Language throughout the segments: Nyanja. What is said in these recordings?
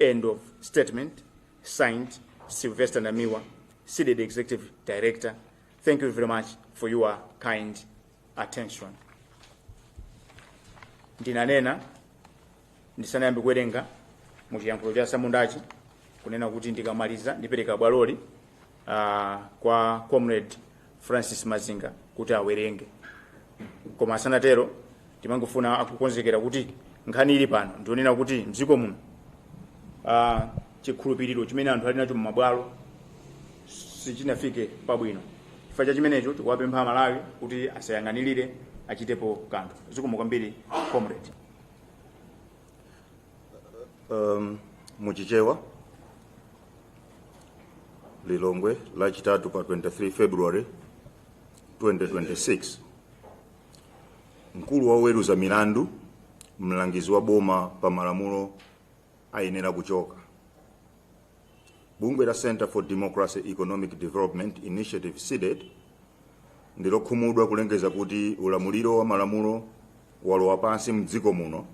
End of statement. Signed, Sylvester Namiwa, CDEDI Executive Director. Thank you very much for your kind attention. Ndinanena ndisanayambe kuwerenga mu chiyankhulo cha samundachi kunena kuti ndikamaliza ndipereka bwaloli uh, kwa comrade francis mazinga kuti awerenge koma asanatero tikungofuna akukonzekera kuti nkhani ili pano ndi yonena kuti mdziko muno uh, chikhulupiriro chimene anthu ali nacho mmabwalo sichinafike pabwino chifukwa cha chimenecho tikuwapempha amalawi kuti asayang'anirire achitepo kanthu zikomo kwambiri comrade um, muchichewa lilongwe lachitatu pa 23 february 2026 mkulu wa oweruza milandu mlangizi wa boma pa malamulo ayenera kuchoka bungwe la center for democracy economic development initiative cdedi ndilokhumudwa kulengeza kuti ulamuliro wa malamulo walowa pansi mdziko muno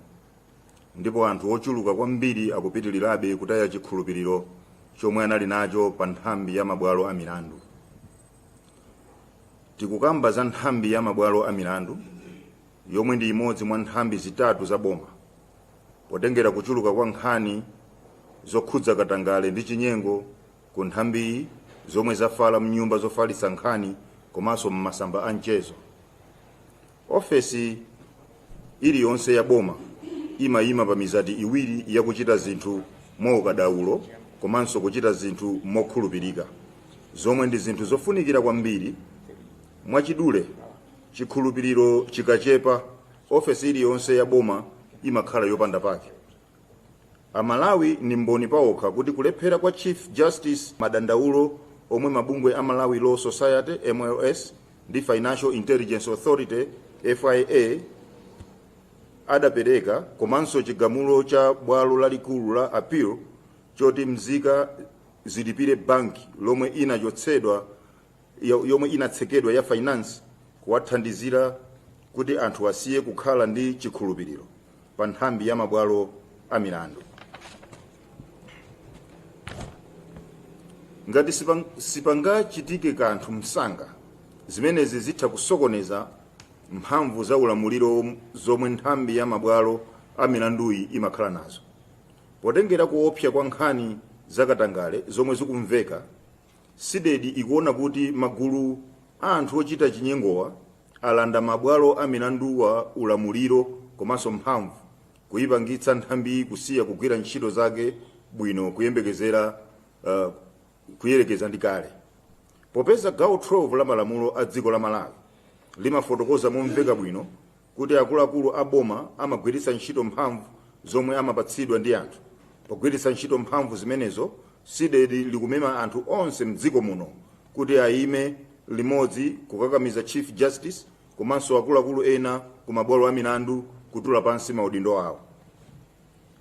Ndipo anthu ochuluka kwambiri akupitilirabe kutaya chikhulupiliro chomwe anali nacho pa nthambi ya mabwalo a milandu. Tikukamba za nthambi ya mabwalo a milandu yomwe ndi imodzi mwa nthambi zitatu za boma potengera kuchuluka kwa nkhani zokhudza katangale ndi chinyengo ku nthambiyi zomwe zafala mnyumba zofalitsa nkhani komanso m'masamba a mchezo. Ofesi iliyonse ya boma imayima pa mizati iwiri ya kuchita zinthu mwaukadaulo komanso kuchita zinthu mokhulupirika, zomwe ndi zinthu zofunikira kwambiri. Mwachidule, chikhulupiriro chikachepa, ofesi iliyonse ya boma imakhala yopanda pake. Amalawi ndi mboni paokha kuti kulephera kwa Chief Justice madandaulo omwe mabungwe a Malawi Law Society, mls, ndi Financial Intelligence Authority, FIA, adapereka komanso chigamulo cha bwalo lalikulu la appeal choti mzika zilipire banki lomwe inachotsedwa yo- yomwe inatsekedwa ya finance kwathandizira kuti anthu asiye kukhala ndi chikhulupiriro pa nthambi ya mabwalo a milandu ngati sipang- sipangachitike kanthu msanga zimenezi zitha kusokoneza mphamvu za ulamuliro zomwe nthambi ya mabwalo a milanduyi imakhala nazo potengera kuopsa kwa nkhani zakatangale zomwe zikumveka CDEDI ikuona kuti magulu a anthu ochita chinyengowa alanda mabwalo a milandu ulamuliro komanso mphamvu, kuipangitsa nthambiyi kusiya kugwira ntchito zake bwino kuyerekeza ndi kale. Popeza gawo 12 la malamulo a dziko la Malawi limafotokoza momveka bwino kuti akuluakulu a boma amagwiritsa ntchito mphamvu zomwe amapatsidwa ndi anthu pogwiritsa ntchito mphamvu zimenezo, CDEDI likumema anthu onse m'dziko muno kuti ayime limodzi kukakamiza Chief Justice komanso akuluakulu ena ku mabwalo a milandu kutula pansi maudindo awo.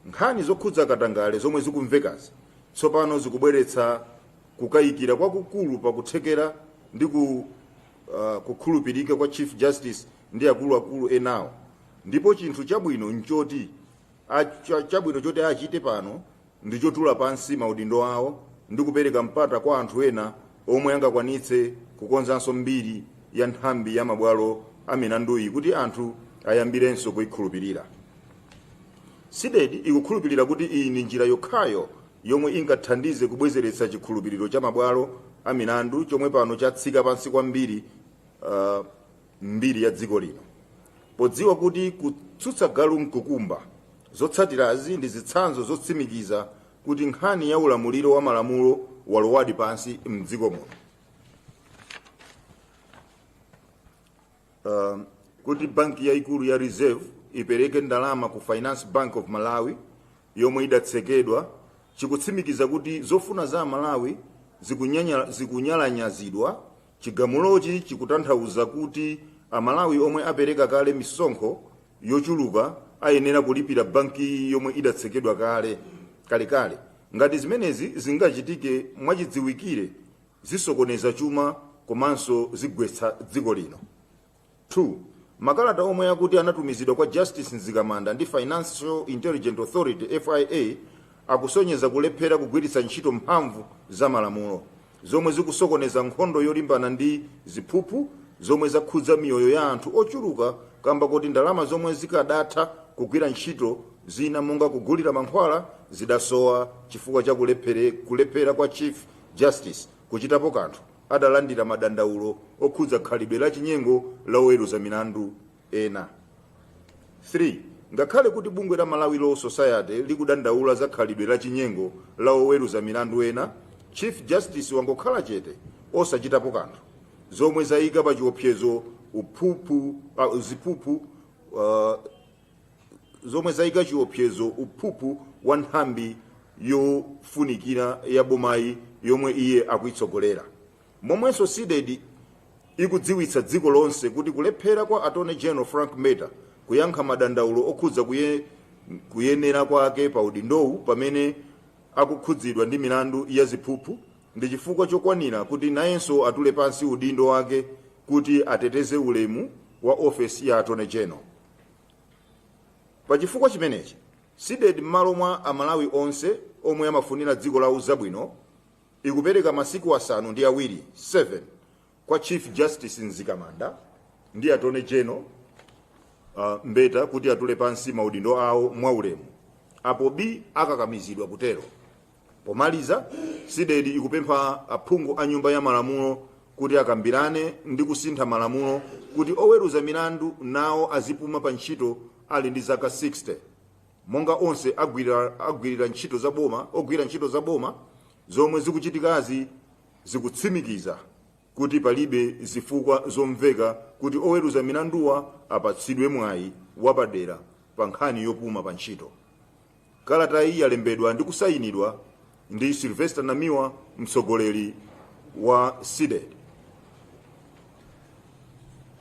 Nkhani zokhudza katangale zomwe zikumvekazi tsopano zikubweretsa kukayikira kwakukulu pa kuthekera ndi ku, uh, kukhulupirika kwa Chief Justice ndi akuluakulu enawo ndipo chinthu chabwino nchoti a- cha- chabwino choti achite pano ndi chotula pansi maudindo awo ndi kupereka mpata kwa anthu ena omwe angakwanitse kukonzanso mbiri ya nthambi ya mabwalo a milanduyi kuti anthu ayambirenso kuyikhulupirira CDEDI ikukhulupirira kuti iyi ndi njira yokhayo yomwe ingathandize kubwezeretsa chikhulupiriro cha mabwalo a milandu chomwe pano chatsika pansi kwambiri uh, m'mbiri ya dziko lino. Podziwa kuti kutsutsa galu n'kukumba, zotsatirazi ndi zitsanzo zotsimikiza kuti nkhani ya ulamuliro wa malamulo walowadi pansi m'dziko muno. Uh, kuti banki yaikulu ya Reserve ipereke ndalama ku Finance Bank of Malawi yomwe idatsekedwa chikutsimikiza kuti zofuna za Amalawi zikunyalanyazi Chigamulochi chikutanthauza kuti Amalawi omwe apereka kale misonkho yochuluka ayenera kulipira bankiyi yomwe idatsekedwa kale kalekale. Ngati zimenezi zingachitike mwachidziwikire zisokoneza chuma komanso zigwetsa dziko lino. 2, Makalata omwe akuti anatumizidwa kwa Justice Mzikamanda ndi Financial Intelligent Authority, FIA, akusonyeza kulephera kugwiritsa ntchito mphamvu za malamulo, zomwe zikusokoneza nkhondo yolimbana ndi ziphuphu zomwe zakhudza miyoyo ya anthu ochuluka kamba koti ndalama zomwe zikadatha kugwira ntchito zina monga kugulira mankhwala zidasowa chifukwa cha kulephera kwa Chief Justice kuchitapo kanthu. adalandira madandaulo okhudza khalidwe la chinyengo la oweruza milandu ena. 3 ngakhale kuti bungwe la Malawi Law Society likudandaula za khalidwe la chinyengo la oweruza milandu ena, Chief Justice wangokhala chete osachitapo kanthu, zomwe zayika pachiopsezo uphuphu, uh, ziphuphu uh, zomwe zayika chiopsezo uphuphu wa nthambi yofunikira ya bomayi yomwe iye akuyitsogolera momwenso cdedi ikudziwitsa dziko lonse kuti kulephera kwa attorney general frank mbeta kuyankha madandaulo okhudza kuye, kuyenera kwake pa udindowu pamene akukhudzidwa ndi milandu ya ziphuphu ndi chifukwa chokwanira kuti nayenso atule pansi udindo wake kuti ateteze ulemu wa ofesi ya attorney general pa chifukwa chimenechi cdedi m'malo mwa amalawi onse omwe amafunira dziko lawo zabwino ikupereka masiku asanu ndi awiri 7 kwa chief justice mzikamanda ndi attorney general uh, mbeta kuti atule pansi maudindo awo mwaulemu apo bii akakamizidwa kutero Pomaliza, Cdedi ikupempha aphungu a Nyumba ya Malamulo kuti akambirane ndi kusintha malamulo kuti oweruza milandu nawo azipuma pa ntchito ali ndi zaka 60 monga onse ogwira ntchito za boma zomwe zikuchitikazi zikutsimikiza kuti palibe zifukwa zomveka kuti oweruza milanduwa apatsidwe mwayi wapadera pa nkhani yopuma pa ntchito Kalata iyi yalembedwa ndi kusayinidwa ndi Sylvester Namiwa mtsogoleri wa Cdedi.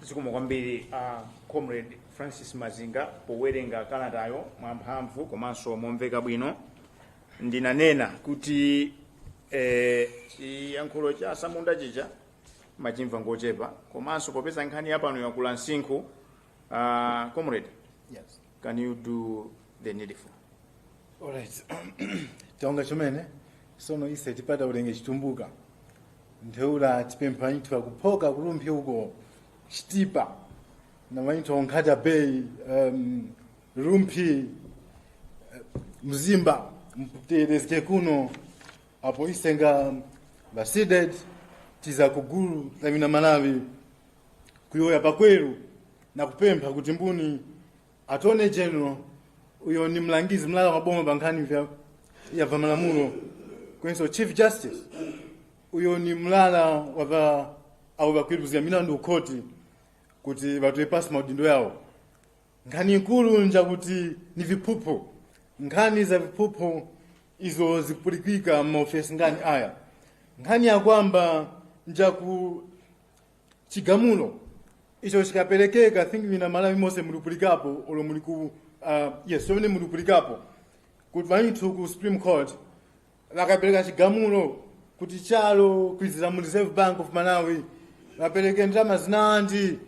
zikomo kwambiri a comrade francis mazinga powerenga kalatayo mwamphamvu komanso momveka bwino ndinanena kuti eh, chiyankhulo cha tsamunda chija amachimva ngochepa komanso popeza nkhani yapano yakula msinkhu uh, comrade yes. Can you do the needful? Alright. Tawonga chomene sono ise tipataulenge chitumbuka. Ntheula tipempha wanyithu wakuphoka ku rumphi uko chitipa. Na wanyithu wa ku nkhata bay um, rumphi eh, mzimba mutegherezge kuno apo ise nga ba cdedi tiza kugulu la bina malawi kuyoya pakweru na kupempha kuti mbuni attorney general uyo ni mlangizi mlala wa boma pa nkhani vya ya va malamulo kwenso chief justice uyo ni mlala wa va abo bakwiruzira milandu ukhoti kuti batoye pasi maudindo yawo nkhani ikulu njakuti ni viphuphu nkhani za viphuphu izo zikupulikika m'maofesi ngani aya nkhani ya kwamba njaku chigamulo icho chikaperekeka i think mina malawi mose mulipulikapo olo muli ku uh, yes pamene mulipulikapo kuti vanithu ku supreme court vakapereka chigamulo kuti chalo kwizira mu reserve bank of malawi vapereke ndalama zinandi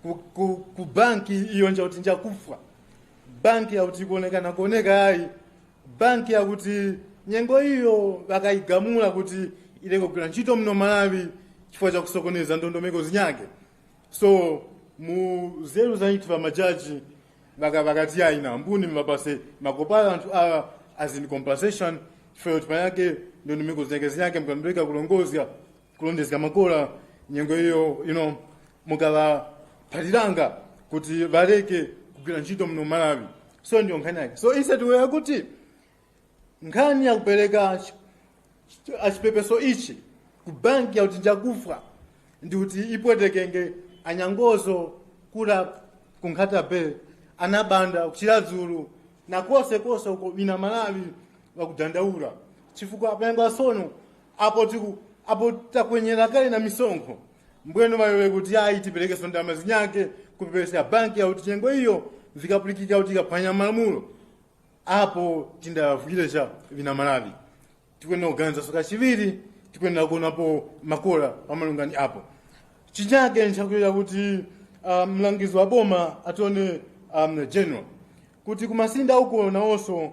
ku, ku, ku banki iyo nja kuti njakufwa banki yakuti kuonekana kuoneka ayi banki yakuti nyengo iyo bakayigamula kuti ileke kugwira ntchito muno malawi chifukwa cha kusokoneza ndondomeko zinyake so mu zeru za nthu ba majaji baka bakati ayi na mbuni mbapase makopala anthu awa as in compensation chifukwa kuti panyake ndondomeko zinyake zinyake mukatondeka kulongozga kulondezga makola nyengo iyo ino mukawaphaliranga kuti waleke kugwira ntchito muno malawi so ndiyo nkhani yake so instead we akuti nkhani yakupereka chi- chi- achipepeso ichi ku banki yakuti njakufa ndi kuti ipwetekenge anyangozo kula kunkhata bay anabanda kuchiradzulu na konse konse uko bina malawi wakudandaula chifukwa apenga sono apo tiku apo takwenyera kale na misonkho mbwenu mayowe kuti ayi tiperekenso ndalama zinyake kupepesera banki yakuti nyengo iyo zikapulikika kuti ikaphwanya malamulo apo tindavuyire cha vina malawi tikuyenera kuganizanso kachiwiri tikuyenera kuonapo makola pamalungani apo chinyake nchakuyenera kuti ah, mlangizi wa boma attorney um, general kuti kumasinda uko nawonso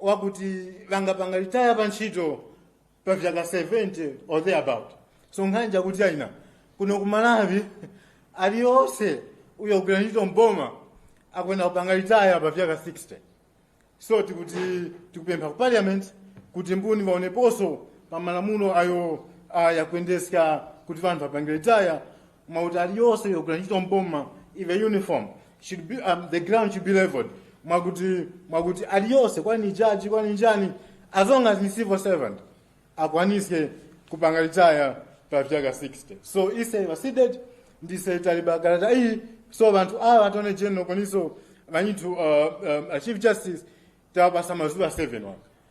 wakuti vangapanga ritaya pa ntchito pa vyaka 70 or thereabout so nkhani chakuti aina kuno ku malawi aliyonse uyo kugwira ntchito mboma akuyenera kupanga ritaya pa vyaka 60 so tikuti tikupempha ku parliament kuti mbuni vaoneponso pa malamulo ayo ayakuyendeska kuti vanthu apange ritaya mautali yonse yogwira ntchito mboma ive uniform should be um, the ground should be leveled mwakuti mwakuti aliyonse kwani jaji kwani njani as long as ni civil servant akwanise kupanga litaya pa vyaka 60 so ise vasided ndise taliba kalata iyi so vanthu awa atone general koniso vanyithu uh, um, a chief justice tawapasa mazuva 7 waka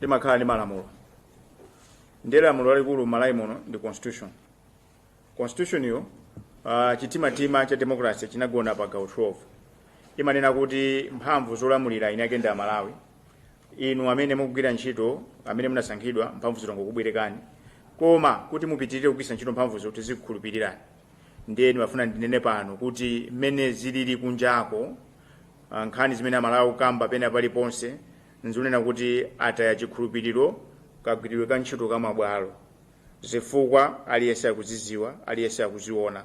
limakhala ndi malamulo ndiye lamulo lalikulu malawi muno ndi constitution constitution yo uh, chitimatima cha democracy chinagona pa gawo 12 imanena kuti mphamvu zolamulira eni ake ndi amalawi inu amene mukugwira ntchito amene munasankhidwa mphamvuzi nzongokubwerekani koma kuti mupitirire kugwiritsa ntchito mphamvuzo tizikukhulupirirani ndiye ndimafuna ndinene pano kuti mmene zilili kunjako ah, nkhani zimene amalawi akukamba pena paliponse n'zonena kuti ataya chikhulupiriro kagwiridwe ka ntchito ka mabwalo. Zifukwa aliyense akuziziwa, aliyense akuziona.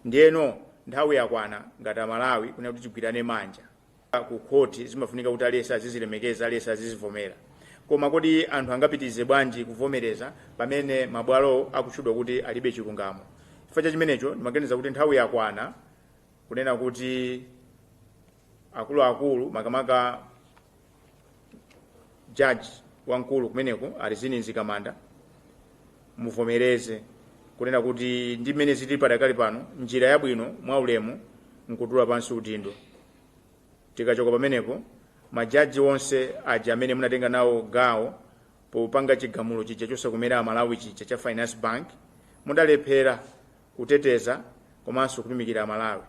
Ndiyeno nthawi yakwana ngati a Malawi kunena kuti tigwirane manja. Ku khoti zimafunika kuti aliyense azizilemekeza, aliyense azizivomera. Koma kodi anthu angapitirize bwanji kuvomereza pamene mabwalowo akutchedwa kuti alibe chilungamo? Chifukwa cha chimenecho ndimaganiza kuti nthawi yakwana kunena kuti. akuluakulu makamaka jaji wamkulu kumeneko a Rizine Mzikamanda muvomereze kunena kuti ndi mmene zili padakali pano njira yabwino mwa ulemu nkutula pansi udindo tikachoka pamenepo majaji onse aja amene munatenga nawo gawo popanga chigamulo chija chosakomera amalawi chija cha finance bank mudalephera kuteteza komanso kutumikira amalawi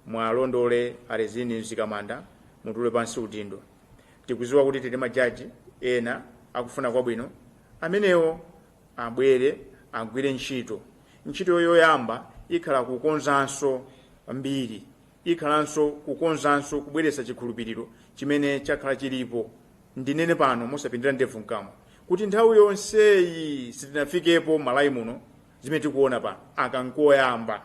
Mwalondole a Rizine Mzikamanda mutule pansi udindo. Tikuziwa kuti tili ndi majaji ena akufuna kwabwino amenewo abwere agwire ntchito. Ntchito yoyamba ikhala kukonzanso mbiri, ikhalanso kukonzanso kubweretsa chikhulupiriro chimene chakhala chilipo. Ndinene pano mosapindira ndevu mkamwa kuti nthawi yonseyi sitinafikepo Malawi muno zimene tikuona pano aka nkoyamba.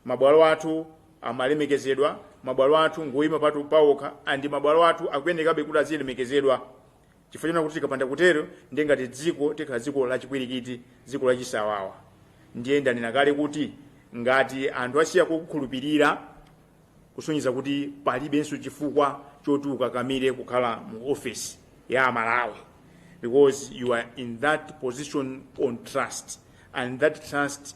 mabwalo athu amalemekezedwa mabwalo athu ngoyima patu pawokha and mabwalo athu akuyenekabe kuti azilemekezedwa chifukwa chonena kuti tikapanda kutero ndiye ngati dziko tikhala dziko lachipwirikiti dziko lachisawawa ndiye ndanena kale kuti ngati anthu asiya kukhulupirira kusonyeza kuti palibenso chifukwa choti ukakamire kukhala mu ofesi ya amalawi because you are in that position on trust and that trust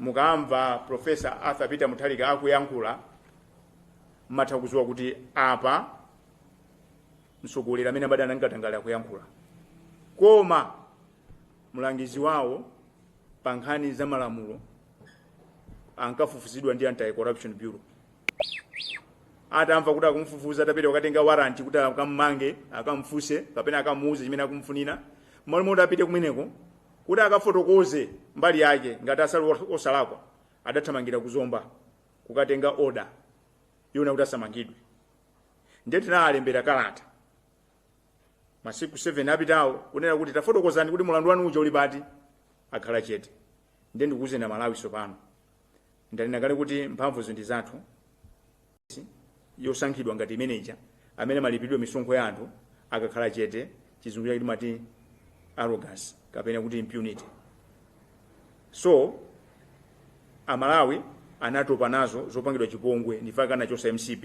mukamva professor arthur peter mutharika akuyankhula mmatha kuziwa kuti apa mtsogoleri amene amadana ndi katangale akuyankhula koma mlangizi wawo pa nkhani za malamulo ankafufuzidwa ndi anti corruption bureau atamva kuti akumfufuza atapita kukatenga waranti kuti akammange akamfunse kapena akamuuze chimene akumfunira mmalo moti apite kumeneko kuti akafotokoze mbali yake ngati ali osalakwa adathamangira ku zomba kukatenga oda yonena kuti asamangidwe ndiye tinaalembera kalata masiku 7 apitawo kunena kuti tafotokozani kuti mulandu wanu uja uli pati akhala chete ndiye ndikuuzeni amalawi sopano ndanena kale kuti mphamvuzi ndi zathu yosankhidwa ngati ameneja amene amalipidwa misonkho ya anthu akakhala chete chizungu chake timati arrogance kapena kuti impunity so amalawi anatopa nazo zopangidwa chipongwe ndi chifukwa anachosa mcp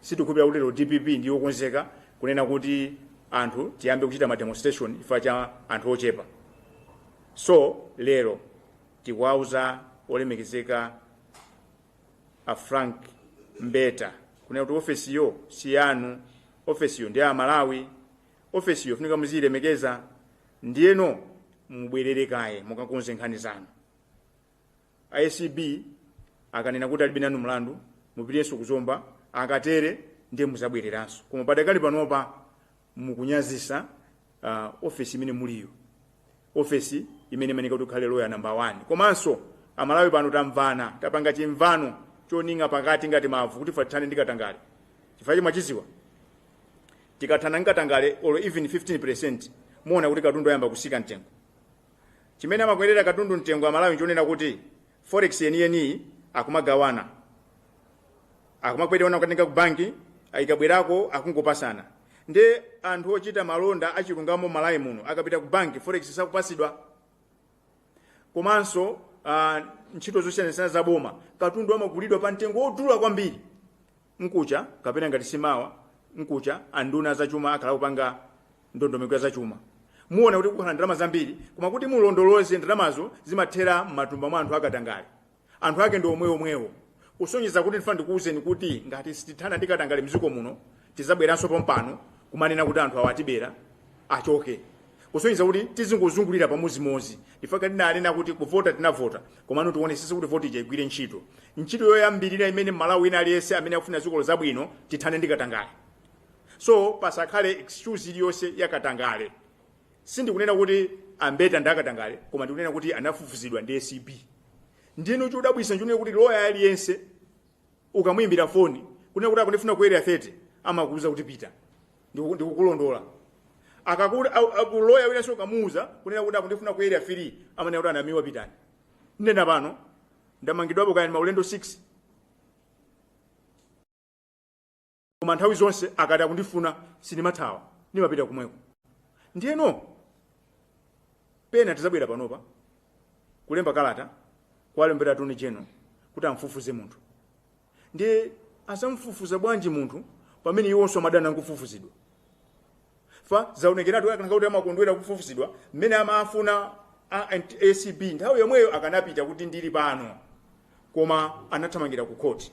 sitikhulupirira kuti lero dpp ndiyokonzeka kunena kuti anthu tiyambe kuchita ma demonstration chifukwa cha anthu ochepa so lero tikuwauza olemekezeka a frank mbeta kunena kuti ofesiyo si yanu ofesiyo ndi ya amalawi ofesiyo funika muziyilemekeza ndiyeno mubwerere kaye mukakonze nkhani zanu a acb akanena kuti alibe nanu mlandu mupitenso kuzomba akatere ndiye muzabwereranso koma padakali panopa mukunyazisa uh, ofesi imene muliyo ofesi imene imafunika kuti ukhale loya namba 1 komanso amalawi pano tamvana tapanga chimvano choning'a pakati ngati mavu kuti ife tithane ndi katangale chifukwa chimwe tikuziwa tikathana ndi katangale or even 15 percent muona kuti katundu ayamba kusika mtengo chimene amakwerera katundu mtengo amalawi nchonena kuti forex yeniyeniyi akumagawana akumakwerana kukatenga ku banki ikabwerako akungopasana nde anthu ochita malonda achilungamo malawi muno akapita ku banki forex sakupasidwa komanso uh, ntchito zosiyanasiyana za boma katundu amagulidwa pa mtengo wodula kwambiri Mkucha kapena ngati si mawa mkucha anduna azachuma akhala akupanga ndondomeko ya zachuma. Muona kuti kukhala ndalama zambiri koma kuti mulondoloze ndalamazo zimathera m'matumba mwa anthu a katangale. Anthu ake ndi omweomwewo. Kusonyeza kuti ndifuna ndikuuzeni kuti ngati sitithana ndi katangale m'dziko muno tizabweranso pompano kumanena kuti anthu awa atibera, achoke. kusonyeza kuti tizingozungulira pamodzimodzi nchifukwa tinanena kuti kuvota tinavota komano tionesese kuti voti ija igwire ntchito ntchito yoyambirira imene mmalawi wina aliyense amene akufuna dzikolo zabwino tithane ndi katangale so pasakhale excuse iliyonse ya katangale sindikunena kuti a mbeta ndi akatangale koma ndikunena kuti anafufuzidwa ndi acb ndiyeno chodabwisa nchonena kuti loya aliyense ukamuyimbira foni kunena kuti akundifuna ku area 30 amakuuza kuti pita Ndiku- ndikukulondola akakuti loya winanso ukamuuza kunena kuti akundifuna ku area 3 amanena kuti a namiwa pitani ndinena pano ndamangidwapo kaya ndi maulendo 6 koma nthawi zonse akati akundifuna sindimathawa ndimapita komweko ndiyeno pena tizabwera panopa kulemba kalata kuwalembera attorney general kuti amfufuze munthu ndiye azamfufuza bwanji munthu pamene iwonso amadana nkufufuzidwa chifukwa zaonekeratu akanakhala kuti amakondwera kufufuzidwa mmene amafuna a- a acb nthawi yomweyo akanapita kuti ndili pano koma anathamangira ku khoti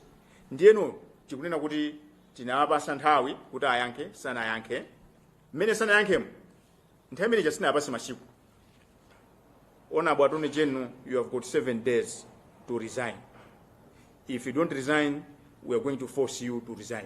ndiyeno tikunena kuti tinawapasa nthawi kuti ayankhe sanayankhe mmene sanayankhemo nthawi imene chasinapase masiku honourable attorney general you have got seven days to resign if you don't resign we are going to force you to resign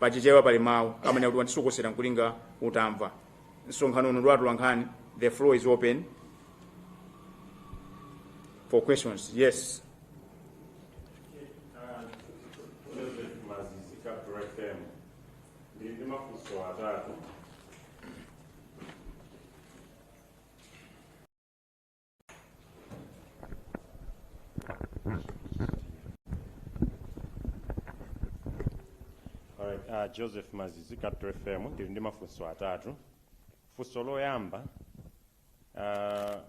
pa chichewa pali mawu amanena kuti wandisokosera nkulinga utamva msonkhano uno ndi wa atolankhani the floor is open for questions yes mazizi capital fm ndili ndi mafunso atatu Alright, uh, Joseph Mazizi, Capital FM, ndili ndi mafunso atatu. Funso loyamba, uh,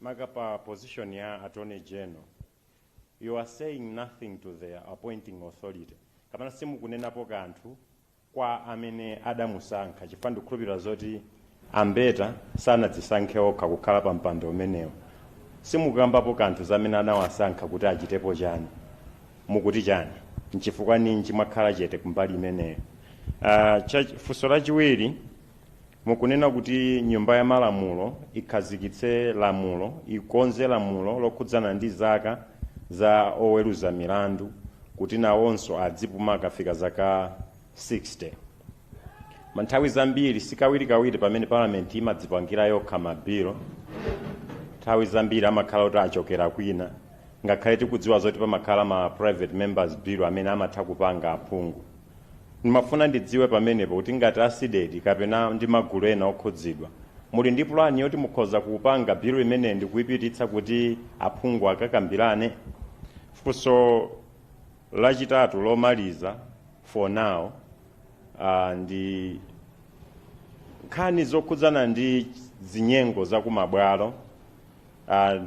maka pa position ya Attorney General, you are saying nothing to the appointing authority. Kapena simukunenapo kanthu kwa amene adamusankha chifukwa ndikukhulupilira zoti a Mbeta sanadzisankhe okha kukhala pa mpando umenewo. Simukukambapo kanthu za amene anawasankha kuti achitepo chani? Mukuti chani? Nchifukwa ninji mwakhala chete kumbali imeneyo? Uh, cha, funso lachiwiri Mukunena kuti nyumba ya malamulo ikhazikitse lamulo, ikonze lamulo lokhudzana ndi zaka za oweruza milandu kuti nawonso adzipuma akafika zaka 60. Nthawi zambiri, si kawirikawiri pamene Parliament imadzipangira yokha ma bill, nthawi zambiri amakhala kuti achokera kwina, ngakhale tikudziwa zoti pamakhala ma private members bill amene amatha kupanga aphungu. Ndimafuna ndidziwe pamenepo kuti ngati a Cdedi kapena ndi magulu ena okhudzidwa, muli ndi pulani yoti mukhoza kupanga bilu imeneyi ndikuipititsa kuti aphungu akakambirane? Funso lachitatu, lomaliza for now, ndi nkhani zokhudzana ndi zinyengo za kumabwalo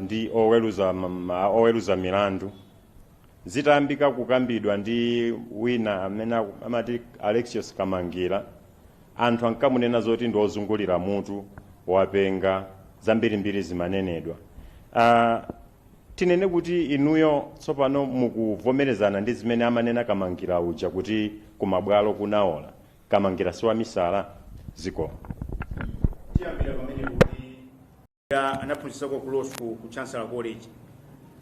ndi oweruza milandu. Zitayambika kukambidwa ndi wina amene amati Alexious Kamangila, anthu ankamunena zoti ndi ozungulira mutu, wapenga, zambirimbiri zimanenedwa. Aaa tinene kuti inuyo tsopano mukuvomerezana ndi zimene amanena Kamangila uja kuti ku mabwalo kunaola? Kamangila si wamisala? Zikomo. Tiyambire pamenepo kuti. Ya anaphunzitsako ku law school ku Chancellor College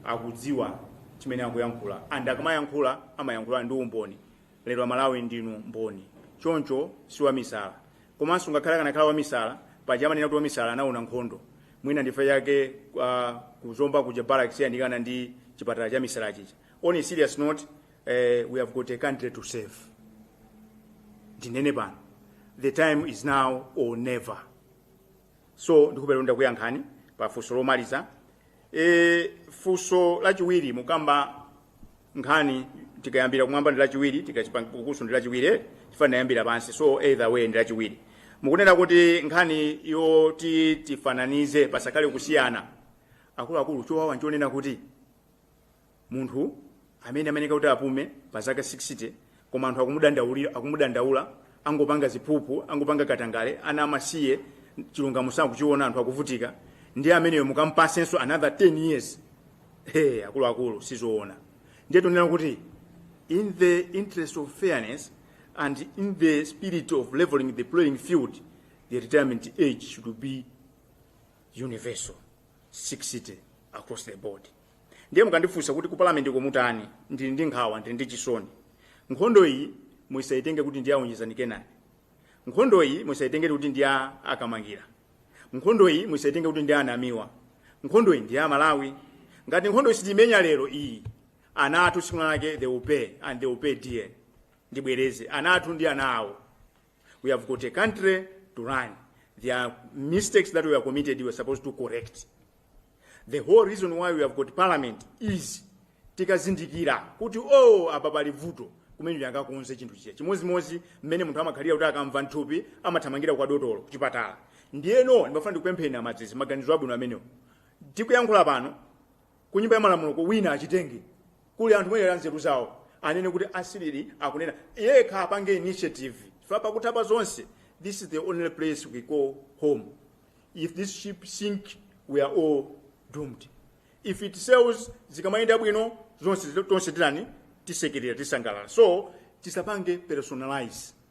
akudziwa chimene akuyankhula, and akamayankhula amayankhula ndi umboni lero amalawi ndinu mboni choncho si wamisala komanso ngakhale akanakhala wamisala paja amanena kuti wamisala anaona nkhondo mwina nchifukwa chake uh, ku Zomba kuja barracks yandikana ndi chipatala cha misala chija on a serious note uh, we have got a country to save ndinene pano the time is now or never so ndikupelero ndakuyankhani pa funso lomaliza e, funso lachiwiri mukamba nkhani tikayambira kumwamba ndi lachiwiri tikachokera kukunso ndi lachiwiri eh, chifukwa tayambira pansi so either way ndi lachiwiri mukunena kuti nkhani yoti tifananize pasakhale kusiyana akuluakulu chowawa nchonena kuti munthu amene amayeneka kuti apume pa zaka 60 koma anthu akumudandaula angopanga ziphuphu angopanga katangale ana amasiye chilungamo sakuchiona anthu akuvutika ndiye ameneyo mukampatsenso another 10 years hey, akuluakulu sizoona ndiye tikunena kuti in the interest of fairness and in the spirit of leveling the playing field the retirement age should be universal 60 across the board ndiye mukandifunsa kuti ku parliament ko mutani ndili ndi nkhawa ndili ndi chisoni nkhondo iyi musayitenge kuti ndi ya Onjezani Kenani nkhondo iyi musayitenge kuti ndi ya a Kamangila nkhondo iyi musayitenge kuti ndi ya a Namiwa nkhondo iyi ndi ya aMalawi ngati nkhondo iyi sitimenya lero iyi ana athu tsiku lake they will pay and they will pay dear ndibwereze ana athu ndi ana awo We have got a country to run. There are mistakes that were committed we are supposed to correct. The whole reason why we have got parliament is tikazindikira kuti oh apa pali vuto kumeneko akakonze chinthu chija chimodzimodzi mmene munthu amakhalira kuti akamva m'thupi amathamangira kwa dotolo kuchipatala ndiyeno ndimafuna ndikupempheni a Madzizi maganizo abwino amenewo tikuyankhula pano ku nyumba ya malamuloko wina achitenge kuli anthu muyenera nzeru zawo anene kuti a CDEDI akunena yekha apange initiative chifukwa pakutha pa zonse this is the only place we call home if this ship sink we are all doomed if it sails zikamayenda bwino zonse tonse titani tisekerera tisangalala so tisapange personalize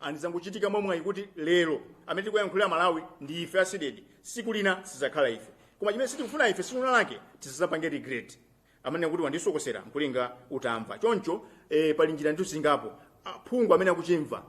and zangochitika mwamwayi kuti lero amene tikuyankhulira malawi ndi ife a CDEDI siku lina sizakhala ife koma chimene sitikufuna ife siku lina lake tisazapange regret amene kuti wandisokosera mkulinga utamva choncho eh, pali njira ndithu zingapo aphungu amene akuchimva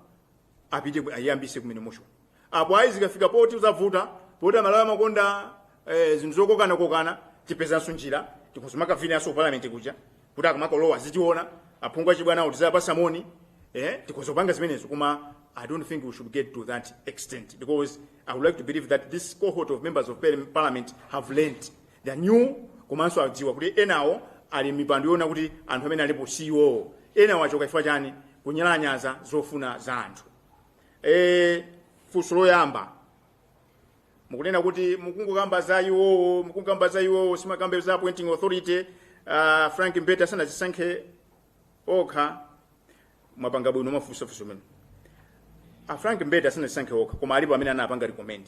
apite ku- ayambise kumene motion apo ayi zikafika poti zavuta poti amalawi amakonda eh, zinthu zokokanakokana tipezanso njira tikhuzumaka vinaso ku parliament kuja kuti akamakalowa azitiona aphungu achibwanawo tizapasa moni eh, tikhoza kupanga zimenezo koma i don't think we should get to that extent because i would like to believe that this cohort of members of parli- parliament have learned they are new komanso adziwa kuti enawo ali mipando yoona kuti anthu amene alipo siwo enawo achoka chifukwa chani kunyalanyaza zofuna za anthu eh, funso loyamba mukunena kuti mukungokamba za iwowo mukungokamba za iwowo simukukamba za appointing authority uh, frank mbeta sanazisankhe okha mwapanga bwino mafunsofunso amene a frank mbete asanazisankhe okha koma alipo amene anapanga recommend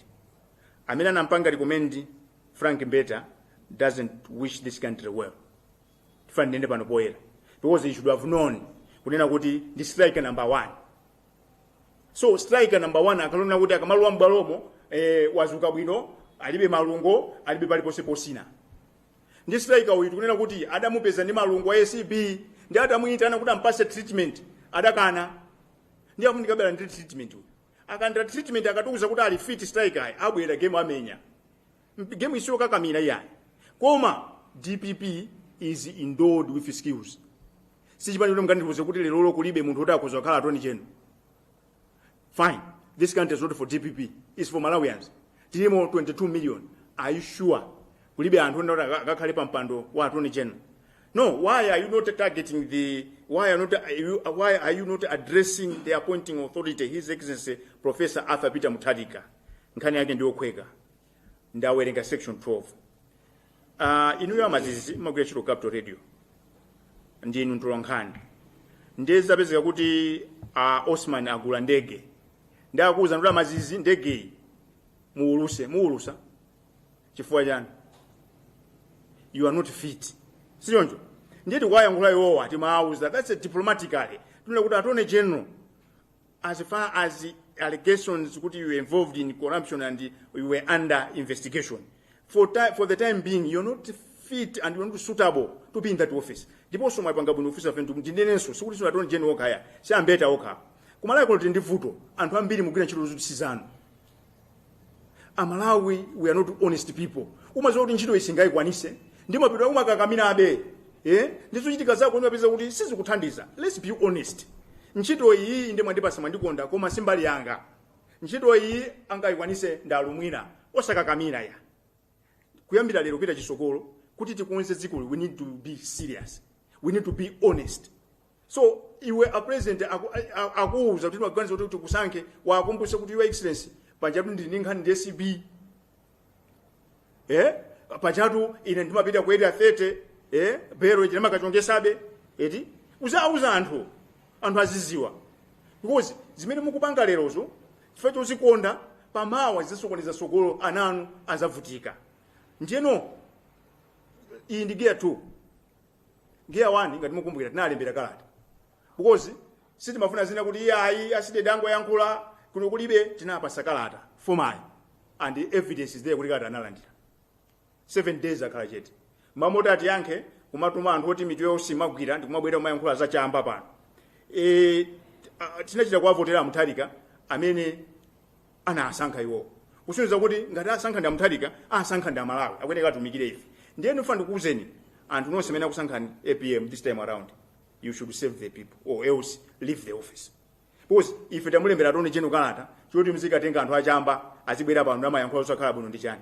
amene anampanga recommend frank mbeta doesn't wish this country well tifuna tinene pano poyera because he should have known kunena kuti ndi striker number one so striker number one akalowa kuti akamalowa m'bwalomo eh, wazuka bwino alibe malungo alibe paliponse posina ndi striker uyu tikunena kuti adamupeza ndi malungo a acb ndi adamuyitana kuti ampase treatment adakana ndi akuti ndikabera ndi treatment uyu akalandira treatment akatiuza kuti ali fit striker ayi abwera game amenya game isiyo kakamira iyayi koma dpp is endowed with skills sichipani choti mukandiuze kuti lerolo kulibe munthu oti akhoza kukhala attorney general fine this country is not for dpp it's for malawians tilimo 22 million are you sure kulibe anthu ena oti aka- akakhale pa mpando wa attorney general no why are you not targeting the why are, not, are you, why are you not addressing the appointing authority his excellency professor arthur peter mutharika nkhani yake ndiyokhweka ndawerenga section 12 uh, inuyo a maziz mmagwira ntchito capital radio ndinu mtolankhani ndiye zapezeka kuti uh, osman agula ndege ndi akuwuza kuti a maziz ndegeyi muwuluse muwulusa chifukwa chani you are not fit sichoncho ndiye tikuwayankhula iwowa timawuza that's a diplomatically tinena kuti attorney general as far as allegations kuti you were involved in corruption and you were under investigation for the, for the time being you're not fit and you're not suitable to be in that office ndiponso mwapanga bwino office aventu ndinenenso sikuti si attorney general kaya si a Mbeta okha ku Malawi kuno tili ndi vuto anthu ambiri mukugwira ntchito zoti si zanu amalawi we are not honest people umaziwa kuti ntchito iyi sungayikwanise koma umapitabe kumakakamirabe eh? ndi zochitika zako umapeza kuti sizikuthandiza let's be honest ntchito iyi inde mwandipasa mwandikonda koma simbali yanga ntchito iyi angayikwanise ndi alumwina osakakamira ya kuyambira lero kupita chitsogolo kuti tikonze dzikoli we need to be serious we need to be honest so iwe a president aku- a- a- akuwuza kuti taganiza kuti tikusankhe uwakumbuse kuti your excellency pajatu ndili ndi nkhani ndi acb eh pajatu ine ndimapita ku area 30 eh belo ine ndimakachongesabe eti uzauza anthu anthu aziziwa because zimene mukupanga lerozo chifukwa chozikonda pamawa zizasokoneza sogolo ana anu azavutika ndiyeno iyi ndi gear 2 gear 1 ngati mukumbukira tinalembera kalata because sitimafuna zina kuti ayi a cdedi angoyankhula kuno kulibe tinawapasa kalata formal and evidence is there kuti kalata analandira 7 days akhala chete mmalo moti atiyankhe kumatuma anthu oti mitu yawo siyimagwira ndikumabwera kumayankhula za chamba pano e, a- tinachita kuwavotera amutharika amene anasankha iwowo kusonyeza kuti ngati asankha ndi amutharika asankha ndi amalawi akuyeneka atumikire ife ndiye ndifuna ndikuwuzeni anthu nonse amene akusankhani apm this time around you should serve the people or else leave the office because ife tamulembera attorney general kalata choti mzikatenga anthu achamba azibwera pano kumayankhula osakhala bwino ndi chani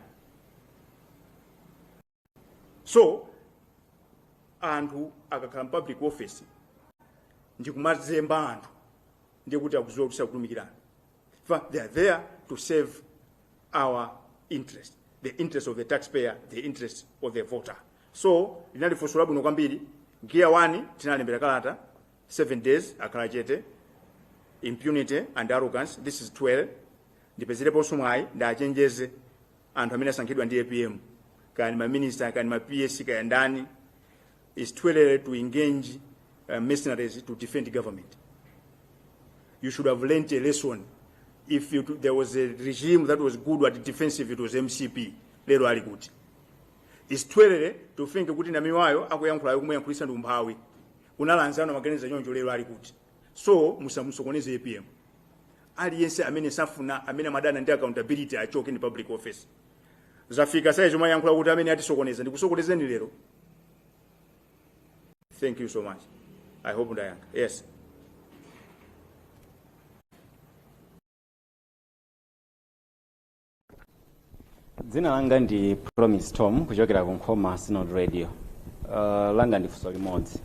so anthu akakhala mu public office ndikumazemba anthu ndiye kuti akuziwa kuti sakutumikirana fa they are there to serve our interest the interest of the taxpayer the interest of the voter so linali funso labwino kwambiri gear 1 tinalembera kalata 7 days akhala chete impunity and arrogance it is too early ndipezereponso mwayi ndiwachenjeze anthu amene asankhidwa ndi apm kaya ndi maminista kaya ndi ma ps kaya ndani is too early to engage uh, mercenaries to defend government you should have learnt a lesson if you, there was a regime that was good at defence it was mcp lero ali kuti is too early to think kuti namiwayo akuyankhulayo kumuyankhulisa ndi umphawi kunali anzanu amaganiza choncho lero ali kuti so musamusokoneze apm aliyense amene safuna amene amadana ndi accountability achoke mu public office zafika sayi chomayankhula kuti amene atisokoneza ndikusokonezeni lero thank you so much i hope ndayankha yes dzina langa ndi promise tom kuchokera ku nkhoma synod radio uh, langa ndi funso limodzi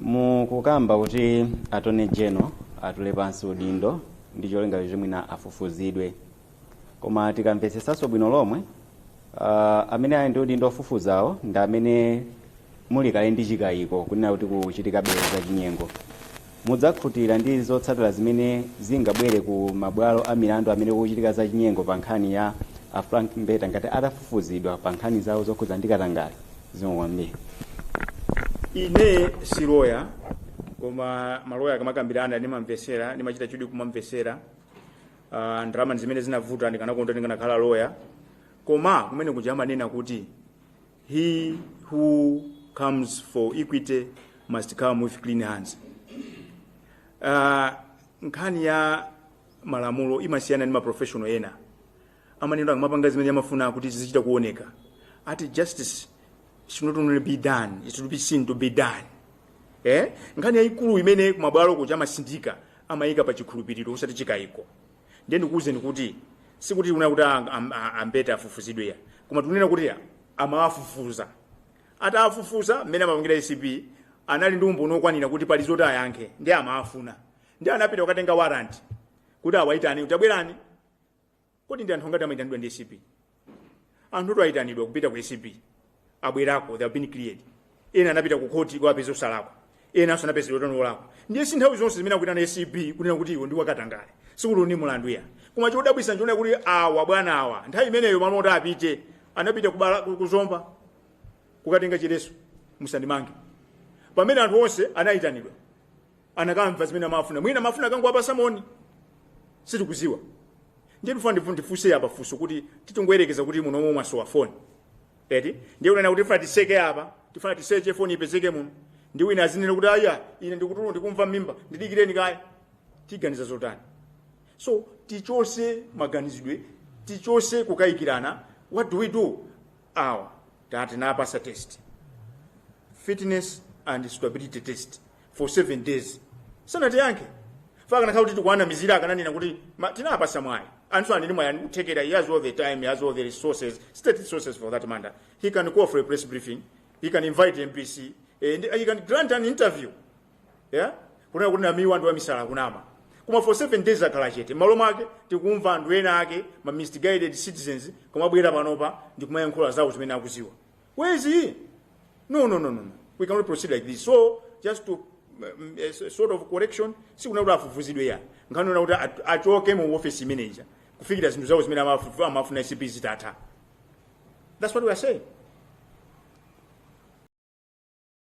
mukukamba kuti attorney general atule pansi udindo ndi cholinga choti mwina afufuzidwe koma tikamvetsetsanso bwino lomwe Uh, amene ali ndi udindo ofufuzawo ndi amene muli kale ndi chikayiko kunena kuti kuchitikabe za chinyengo mudzakhutira ndi zotsatira zimene zingabwere ku mabwalo a milandu amene kuchitika za chinyengo pa nkhani ya a frank mbeta ngati atafufuzidwa pa nkhani zawo zokhudza ndi katangale zikomo kwambiri ine si loya koma maloya akamakambirana ndimamvesera ndimachita chidwi kumamvesera uh, ndalama zimene zinavuta ndikanakonda ndikanakhala loya koma kumene kuja amanena kuti he who comes for equity must come with clean hands uh, nkhani ya malamulo imasiyana ndi maprofession ena amanena akamapanga zimene amafuna kuti zizichita kuoneka ati justice should not only be done it should be seen to be done eh? nkhani yayikulu imene kumabwalo kuja amasindika amayika pa chikhulupiriro osati chikayiko ndiye ndikuwuzeni kuti sikuti tikunena kuti a- am- a- ambeta afufuzidwe ya koma tikunena kuti ya, amawafufuza atawafufuza mmene amapangira acb anali ndi umboni wokwanira kuti pali zoti ayankhe nde amawafuna nde anapita kukatenga warrant kuti awayitane kuti tabwerani kodi ndi anthu angati amaitanidwa ndi acb anthu oti ayitanidwa kupita ku acb abwerako they have been cleared ena anapita ku khoti kuwapeza osalakwa enanso anapezedwa kuti olakwa ndiye si nthawi zonse zimene akuyitana acb kunena kuti iwo ndi wakatangale sikuti uni mulandu ya koma chodabwisa nchonena kuti awa bwana awa nthawi imeneyo malo oti apite anapita kubala- ku- kuzomba kukatenga chiletso musandimange pamene anthu onse anayitanidwa anakamva zimene amafuna mwina amafuna akangowapasa moni sitikuziwa ndiye tifuna ndifu- ndifunse apa funso kuti titongoyerekeza kuti muno momwe mwasowa foni eti ndiye unena kuti tifuna tiseke apa tifuna tiseche foni ipezeke muno nde wina azinena kuti aya ine ndikutuluka ndikumva mmimba ndidikireni kaye tiganiza zotani so tichose maganizidwe tichose kukayikirana what do we do awa tati tinawapasa test fitness and suitability test for 7 days sanatiyankhe ikanakhala kuti tikuwanamizira akananena kuti ma- tinawapasa mwayi anthu anene mwayi ndi kuthekera he has all the time he has all the resources state resources for that matter he can call for a press briefing he can invite mbc and he can grant an interview yeah? kunena kuti namiwa ndi wamisala kunama koma for 7 days akhala chete m'malo mwake tikumva anthu ena ake ma misguided citizens kumabwera panopa ndi kumayankhula zawo zimene akudziwa where is he no no no no no. we cannot proceed like this so just to um, a s- sort of correction sikunena kuti afufuzidwe ayi nkhani yonena kuti at- achoke mu office imeneja kufikira zinthu zawo zimene amafu- amafuna acb zitatha that's what we are saying